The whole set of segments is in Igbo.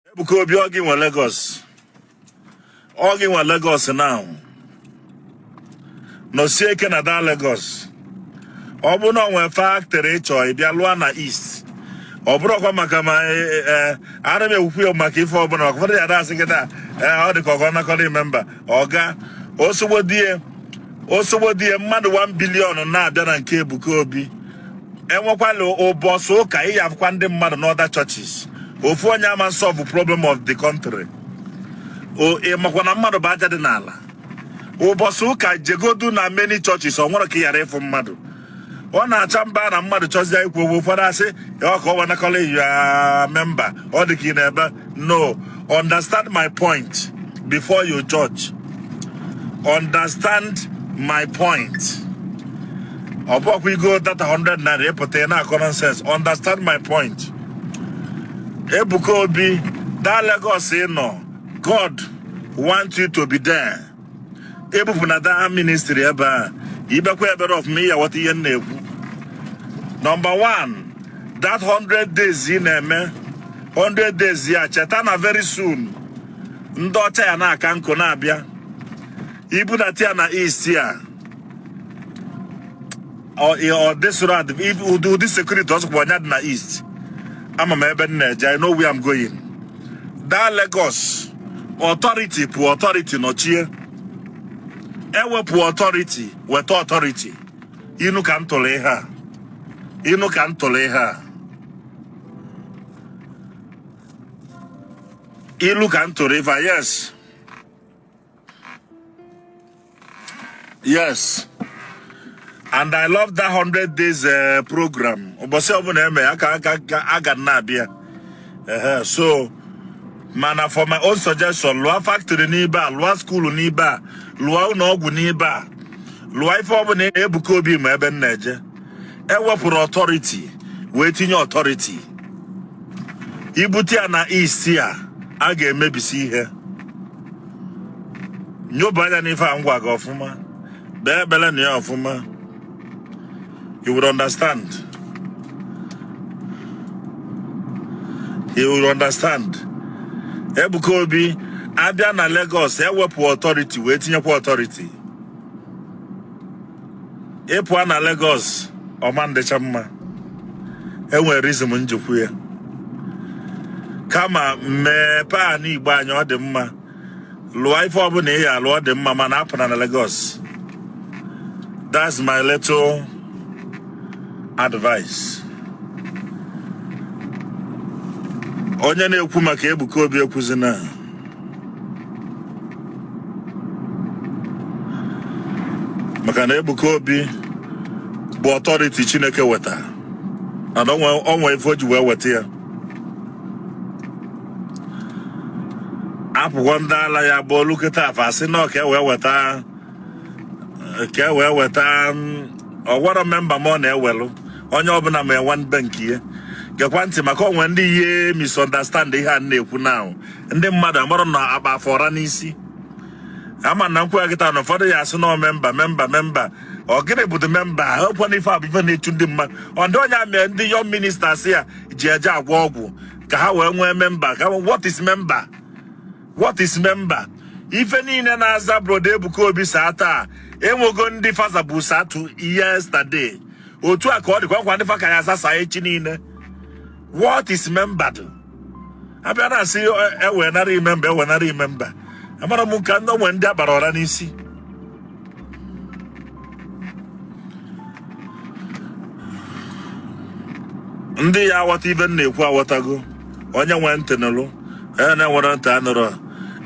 Ebuka Obi ọ gị nwe Lagos ọ gị nwe Lagos now nọsie ike na that Lagos ọ bụ na o nwe factory ị chọ ịbịa lụa na East ọ bụrọkwa maka ma e, e, e, ara m ekwukwu ya maka ife ọbụla maka ụfọdụ ya da-asị gị taa ọ dị ka ọ ga-anakọrọ ị member ọga osogbodie osogbodie mmadụ 1 billion na-abịa na nke Ebuka Obi enwekwala ụbọsị ụka ị ya-afụkwa ndị mmadụ n'other churches ofu onye ama solve problem of the country O- ị makwa na mmadụ bụ aja dị n'ala ụbọsị ụka jegodu na many churches o nwere ka ị yara ịfụ mmadụ ọ na-acha mba na mmadụ chọzie ikwu okwu ụfọdụ asị ya ka ọ wanakọla ya member ọ dị ka ị na-ebe no understand my point before you judge understand my point ọ bụkwa igo data 100 naira ị pụta ị na-akọ nonsense understand my point Ebuka Obi that Lagos ị nọ God want you to be there ebupụna that ministry ebe a i kpekwaa ekpere ọfụma ị ya-aghọta ihe m na-ekwu number 1 that 100 days ị na-eme 100 days ya cheta na very soon ndị ọcha ya na-aka nkụ na-abịa i bunata ya na East a ọ ị- ọ dịsụrụ adị ibu- ụdị ụdị security ọzọkwa ọnya dị na East ama m ebe m na-eje I know where I'm going that Lagos authority pụ authority nọchie ewepụ authority weta authority inu ka m tụrụ ihe a inu ka m tụrụ ihe a ilu ka m tụrụ ive a yes yes and I love that 100 days uh, program ụbọsị ọbụna eme ya ka aga na-abịa so mana for my own suggestion lụa factory n'ibe a lụa school n'ibe a lụa ụnọ ọgwụ n'ibe a lụa ife ọbụna Ebuka Obi ma ebe m na-eje ewepụrụ authority wee tinye authority i bute ya na East a a ga-emebisi ihe nyoba anya n'ife a m gwa gị ọfụma kpee ekpele na ya ọfụma you will understand you will understand Ebuka Obi abịa na Lagos ewepụ authority wee tinyekwa authority ị pụa na Lagos ọ ma-adịcha mma enwere reason m ji kwu ya kama mepe anị Igbo anyị ọ dị mma lụa ife ọbụna ị ya alụ ọ dị mma mana apụna na Lagos that's my little advice onye na-ekwu maka Ebuka Obi ekwuzina maka na Ebuka Obi bụ authority Chineke weta and o nwe ife o ji wee weta ya apụkwa ndị ala ya bụlụ kịta fa asị na ka e wee weta ka e wee weta ọgwara member m ọ na-ewelụ onye ọbụna ma enwe mbe nke ya gekwa ntị maka o nwe ndị ya misunderstand ihe a na-ekwu now ndị mmadụ amarọ na agba fa ọra n'isi ama na m kwue kịta na ụfọdụ ya asị na member member member ọ gịnị bụ the member ọkwa na ife a bụ ife na-echu ndị mmadụ ọ ndị onye amị ndị young ministers ya ji eje agwọ ọgwụ ka ha wee nwee member ka what is member what is member ife niile na-aza Brother Ebuka Obi sir taa enwego ndị fa zabu sir too yesterday otu a ka ọ dịkwa nkwa ndị fa ka ya aza sir echi niile what is member do a bịa na-asị ewenarị member ewenarị member amara m kwa na o nwe ndị agbara ọra n'isi ndị ya aghọta ife m na-ekwu aghọtago onye nwee ntị nụrụ onye na-enwerọ ntị anụrụ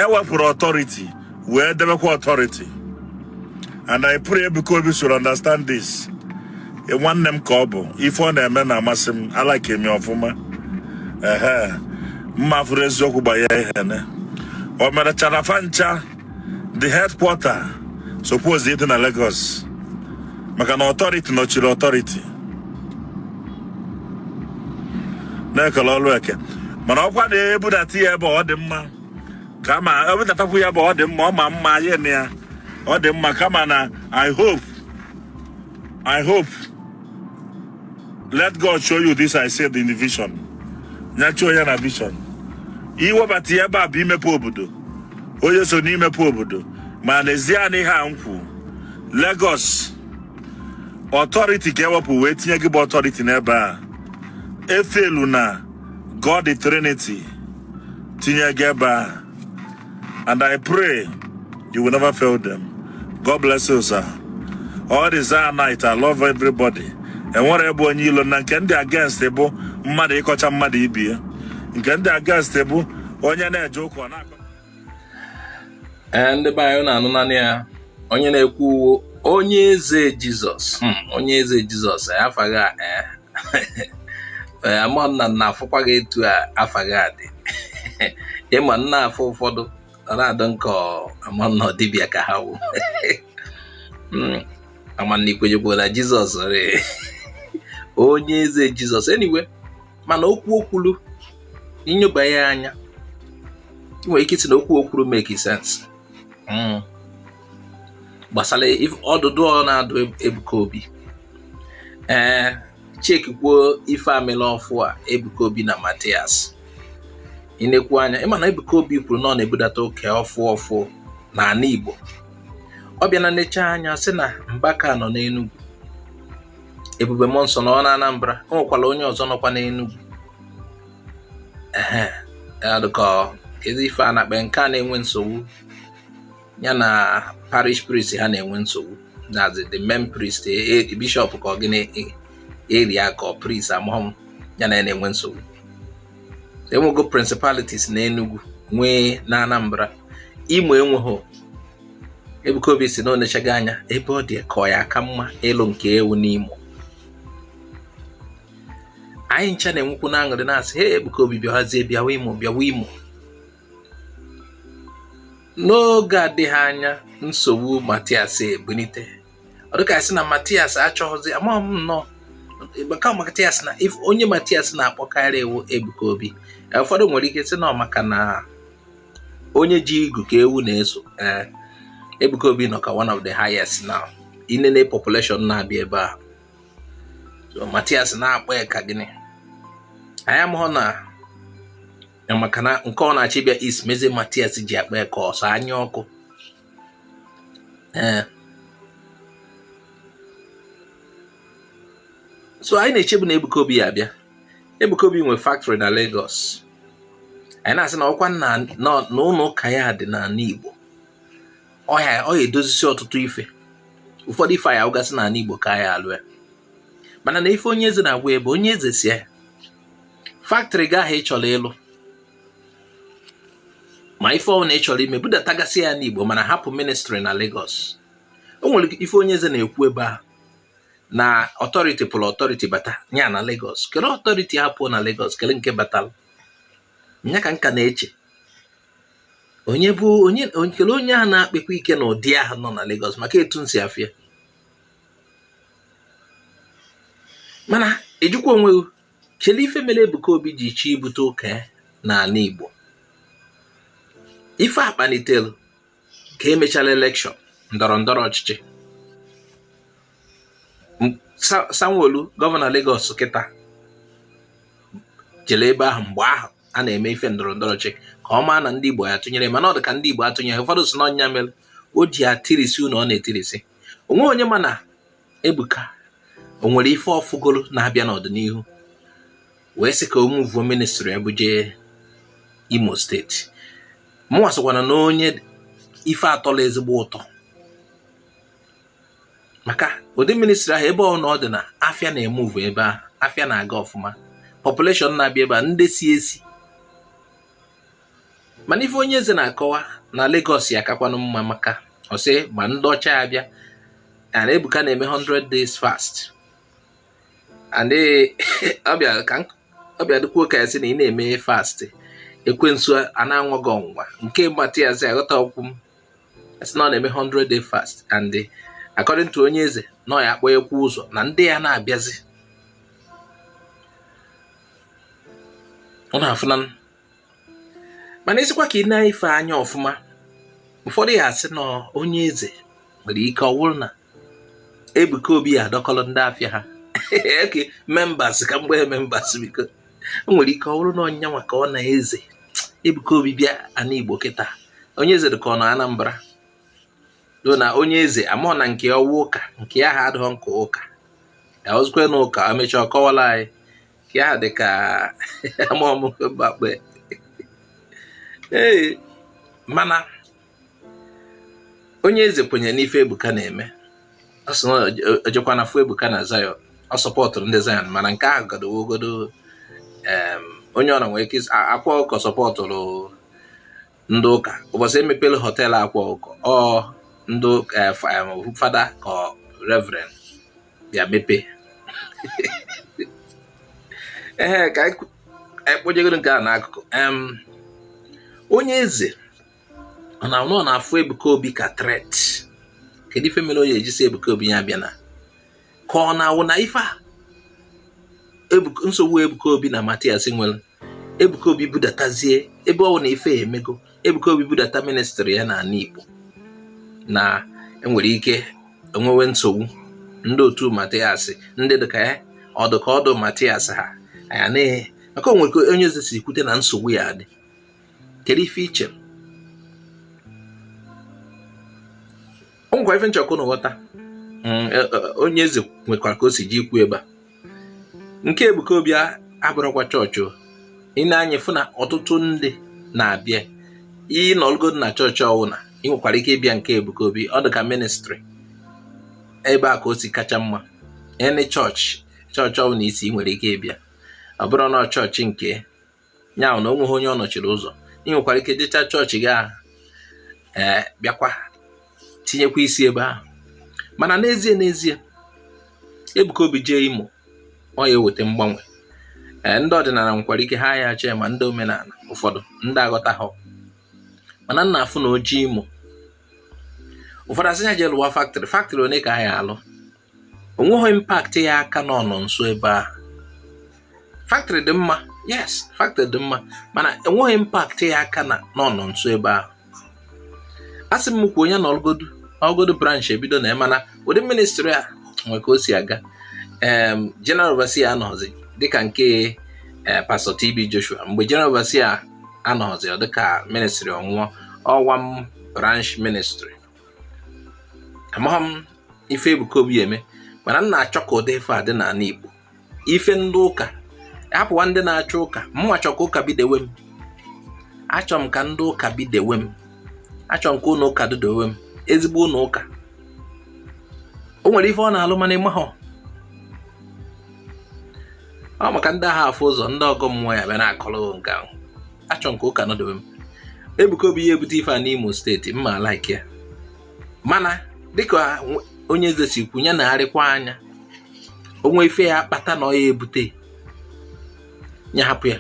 ewepụrụ authority wee debekwa authority and I pray Ebuka Obi should understand this e, nwanne m ka ọ bụ ife ọ na-eme na-amasị m alike m ọfụma ehe mma fụrụ eziokwu gbanye ihe nine o merechara fa ncha the headquarter suppose ịdị na Lagos maka na authority nọchiri authority na-ekele ọlụ eke mana ọkwa na-ebudata ya ebe ọ dị mma kama e budatakwu ya ebe ọ dị mma ọ ma mma ya na ya ọ dị mma kama na i hope i hope let god show you this i said in the vision nya show ya na vision iwebata ya ebe a bụ imepe obodo onye so n'imepe obodo ma n'ezie na ihe a m kwu Lagos authority ka ewepụ wee tinye gị bụ authority n'ebe a I feel na God the Trinity tinye gị ebe a and I pray you will never fail them God bless you sir all the Zionites I love everybody enwerọ m onye ilo na nke m dị against bụ mmadụ ịkọcha mmadụ ibie nke m dị against bụ onye na-eje ụka na-akọ ee ndị be anyị na-anụ nanị ya onye na-ekwu wụ onye eze jizọs hmm, onye eze jizọs afa gị a eh. eh, ama na nna afụkwa gị etu afa gị a dị ị ma na afa ụfọdụ ọ na-adọ nke ama na ọ dibịa ka ha wụ hmm, ama na i kwenyekwara na jizọs onye eze jizọs anyway mana okwu o kwulu i nyoba ya anya ị nwere ike ịsị na okwu o kwuru make sense hmm. gbasara ọdụdụ ọ na-adụ Ebuka Obi ee eh, chekikwo ife a melụ ọfụ a Ebuka Obi na Matias i nekwu anya ị ma na Ebuka Obi kwuru na ọ na-ebudata oke ọfụ ọfụ n'ana Igbo ọ bịa nenecha anya sị na Mbaka nọ n'Enugu ebube mmụọ nsọ nọ na Anambra o nwekwara onye ọzọ nọkwa n'Enugwu adụkọ kedu ife a na-akpọ nke a na-enwe nsogbu ya na parish priest ha na-enwe nsogbu that's the main priest e, e, bishọp ka ọ gịnị area ka priest amahọ m ya na ya na-enwe nsogbu enwego principalities na Enugu nwee na Anambra Imo enweghị Ebuka Obi sị na o nechago anya ebe ọ dị ka ọ ya aka mma ịlụ nke ya wụ n'Imo anyị ncha na-enwekwu na aṅụrị na-asị he Ebuka Obi bịawazie bịawa Imo bịawa Imo n'oge adịghị anya nsogbu Matias ebunite ọ dịka sị na Matias achọghịzi amaghị m na ọ maka Matias na onye Matias na-akpọkarị wụ Ebuka Obi e, ụfọdụ nwere ike sị na maka na onye ji igu ka ewu na-eso ee Ebuka Obi nọ ka one of the highest now i nene population na-abịa ebe a Matias na-akpa ya aka gịnị anyị amaghọ na maka na nke ọ na-achị bịa is mezi Matias ji akpa ya aka ọ sọ anya ọkụ ee eh. so anyị na-echebu na Ebuka Obi ya abịa Ebuka Obi nwe factory na Lagos anyị na-asị na ọkwa na ụlọ ụka ya dị n'ana Igbo ọ ya edozisi ọtụtụ ife ụfọdụ ife a ya alụgasị n'ana Igbo ka a ya alụ ya mana na ife onye eze na-agwa ya bụ onye eze sị ya factory gị ahụ ị chọrọ ịlụ ma ife ọbụla ị chọrọ ime budatagasị ya n'Igbo mana hapụ ministry na Lagos o nwere ife onye eze na-ekwu ebe a na authority pụrụ authority bata nya na Lagos kele authority hapụ na Lagos kele nke batara nya ka m ka na-eche onye bụ onye kele onye ahụ na-akpakwa ike na ụdị ahụ nọ na Lagos maka etu m si afụ ya mana ejikwa onwe Kedu ife mere Ebuka Obi ji chọọ ibute ụka ya n'ana Igbo ife a kpalitere ka emechara elekshọn ndọrọ ndọrọ ọchịchị Sanwo-Olu gọvanọ Lagos kịta jere ebe ahụ mgbe ahụ a na-eme ife ndọrọ ndọrọ ọchịchị ka ọ maa na ndị Igbo ya atụnyere mana ọ dị ka ndị Igbo atụnyeghị ụfọdụ sị na ọ nya mere o ji etirisi ụnọ ọ na-etirisi onweghị onye ma na Ebuka o nwere ife ọ fụgoro na-abịa n'ọdịnihu wee sị ka o muvuo ministri ya buje Imo steeti mụnwa sịkwana na onye ife atọla ezigbo ụtọ maka ụdị ministri ahụ ebe ọ wụ na ọ dị na afịa na-emuvu ebe ahụ afịa na-aga ọfụma population na-abịa ebe a ndị si esi mana ife onye eze na-akọwa na Lagos ya akakwanụ mma maka ọ sị ma ndị ọcha ya bịa and Ebuka na-eme 100 days fast and ọ bịa dịkwuo ka ya sị na ị na-eme fast ekwensu a na-anwa gị ọnwụnwa nke mgbata ya sị aghọta okwu m sị na ọ na-eme 100 day fast and according to onye eze na ọ ya akpọwakwu ụzọ na ndị ya na-abịazi ọ na-afụna mana ị sịkwa ka i nenye ife anya ọfụma ụfọdụ ya asị na onye eze nwere ike ọ bụrụ na Ebuka Obi ya adọkọrọ ndị afịa ha membas ka mgbe membas biko o nwere ike ọ bụrụ na ọ nyanwa ka ọ na-eze Ebuka Obi bịa ana Igbo kịta onye eze dị ka ọ nọ Anambra though na onye eze amụọ na nke ọ wụ ụka nke ya ha adịghị nke ụka ya ọ sịkwanụ ka emechaa kọwara anyị ya dị ka amamgbakpe ee mana onye eze kwenyere n'ife Ebuka na-eme ọ sị na o jekwana fụ Ebuka na Zion ọ sọpọtụrụ ndị Zion mana nke ahụ gadowogodo onye ọbụna nwere ike Akwa Ọkụkọ sọpọtụrụ ndị ụka ụbọchị emepere họteelụ Akwa Ọkụkọ ọ ndị eh, eh, fada ka reverend bịa mepe ee ka anyị kpojegoro nke a n'akụkụ onye eze ọ na ọ na-afụ Ebuka Obi ka threat kedu ife mere onye eze ji sị Ebuka Obi ya abịana ka ọ na-awụ na ife a nsogbu Ebuka Obi na Matias nwere Ebuka Obi budatazie ebe ọ wụ na ife emego Ebuka Obi budata ministri ya n'ana Igbo na enwere ike enwewe nsogbu ndị otu Matias ndị dịka ya ọ dụ ka otu Matias ha anya n'ihe maka o nwere ka onye eze si kwute na nsogbu ya dị kedu ife i che o nwekwa ife m chọ ka unu ghọta mm, e, e, onye eze nwekwara ka o si ji ikwu ebe a nke Ebuka Obi abụrụkwa chọọchị o i ne anya fụ na ọtụtụ ndị na-abịa ị nọlụgodu na chọọchị ọwụna ị nwekwara ike ịbịa nke Ebuka Obi ọ dị ka ministri ebe a ka o si kacha mma any chọọchị chọọchị ọwụna i si ị nwere ike ịbịa ọ bụrụ na chọọchị nke ya ahụ na o nweghị onye ọ nọchiri ụzọ ị nwekwara ike jecha chọọchị gị ahụ ee bịakwa tinyekwa isi ebe ahụ mana n'ezie n'ezie Ebuka Obi jee Imo ọ ya eweta mgbanwe ee ndị ọdịnala nwekwara ike ha ya chee ma ndị omenala ụfọdụ ndị aghọtahọ mana m na-afụ na o jee Imo ụfọdụ asị ya jee lụwa faktrị faktrị one ka ha ya alụ o nweghị impact ya aka ụnọ nsọ ebe ahụ factory dị mma yes factory dị mma mana enweghị impact ya aka ụnọ nsọ ebe ahụ a sị m kwuo onye na ọlụgodu ọlụgodu branch ebido na mana ụdị ministri a nwere ka o si aga general overseer anọzi dịka nke eh, pastọ TB Joshua mgbe general overseer anọzi ọ dịka ministri anwụọ ọwa m branch ministri amaghị m ife Ebuka Obi ya eme mana m na-achọ ka ụdị ife a dị n'ala Igbo ife ndị ụka hapụwa ndị na-achọ ụka mụnwa chọ ka ụka bidewe m achọ m ka ndị ụka bidewe m achọ m ka ụlọ ụka dịdewe m ezigbo ụlọ ụka o nwere ife ọ na-alụ mana ị mahọ ọ maka ndị agha afụ ụzọ ndị ọgọ mmụọ ya bịa na-akọrọ nke ahụ achọ m ka ụka nọdewe m Ebuka Obi ya ebute ife a n'Imo steeti m ma like ya mana dịka onye eze si kwu ya neharịkwa anya o nwe ife ya akpata na ọ ya ebute ya hapụ ya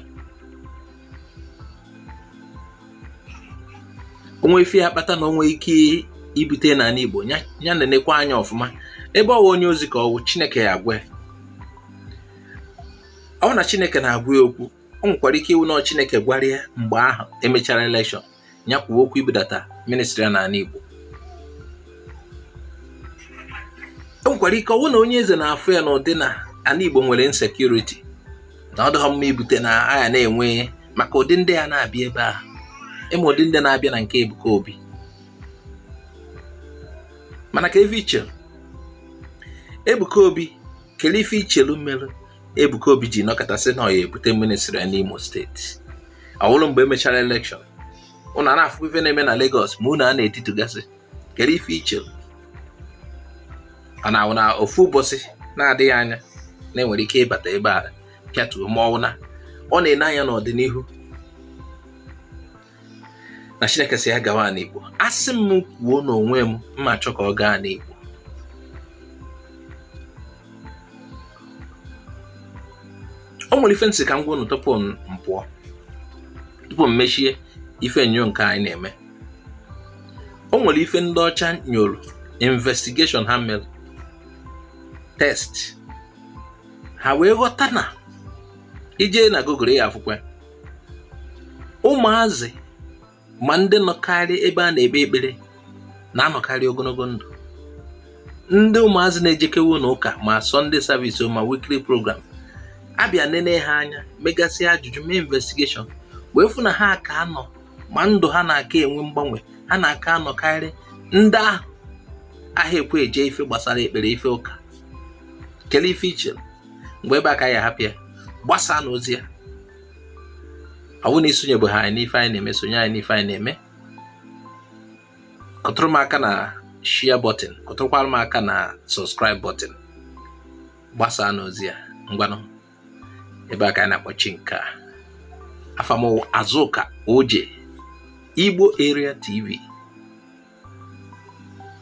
o nwe ife ya akpata na o nwe ike ibute n'ala Igbo ya nenekwa anya ọfụma ebe ọwa onye ozi ka ọ wụ Chineke ya agwa ọ na Chineke na-agwa ya okwu o nwekwara ike ịwụ na Chineke gwara ya mgbe ahụ emechara elekshọn ya kwuo okwu ibudata ministri ya n'ala Igbo o nwekwara ike ọ wụ na onye eze na-afụ ya n'ụdị na ala Igbo nwere insekuriti na ọ dịghọ mma ibute na a ya na-enwe maka ụdị ndị ya na-abịa ebe ahụ ị ma ụdị ndị na-abịa na nke Ebuka Obi mana kee ife i che Ebuka Obi kelee ife i chelu merụ Ebuka Obi ji nọkata sị na ọ ya ebute ministri ya n'Imo steeti ọ wụrụ mgbe emechara elekshọn unu ana-afụ ife na-eme na Lagos ma ụnọ a na-etitugasị kedu ife i che ọ na-awụ na ofu ụbọchị na-adịghị anya na e nwere ike ịbata ebe a pịatuo ma ọ wụ na ọ na-ene anya n'ọdịnihu na chineke si ya gawa n'igbo asị m kwuo n'onwe m m ma achọ ka ọ gaa n'igbo o nwere ife m sị ka m gwa unu tupu m pụọ tupu m mechie ife nyo nke anyị na-eme o nwere ife ndị ọcha nyoro investigation ha mere test ha wee ghọta na i jee na google ị ya-afụkwa ụmụazị ma ndị nọkarị ebe a na-ekpe ekpere na-anọkarị ogonogo ndụ ndị ụmụazị na-ejekewe ụnọ ụka ma sunday service ma weekly program a bịa nene ha anya megasị ajụjụ mee investigation wee fụ na ha ka anọ ma ndụ ha na-aka enwe mgbanwe ha na-aka anọkarị ndị ahụ aha ekwe eje ife gbasara ekpere ife ụka kele ife i che mgbe ebe a ka anyị ya-ahapụ ya gbasaanụ ozi a ọ bụ na i sonyebeghị anyị n'ife anyị na-eme sonye anyị n'ife anyị na-eme kụtụrụ m aka na share button kụtụrụkwara m aka na subscribe button gbasaanụ ozi a ngwanụ ebe a ka anyị na-akpọchi nke a afa m azụka oje igbo area tv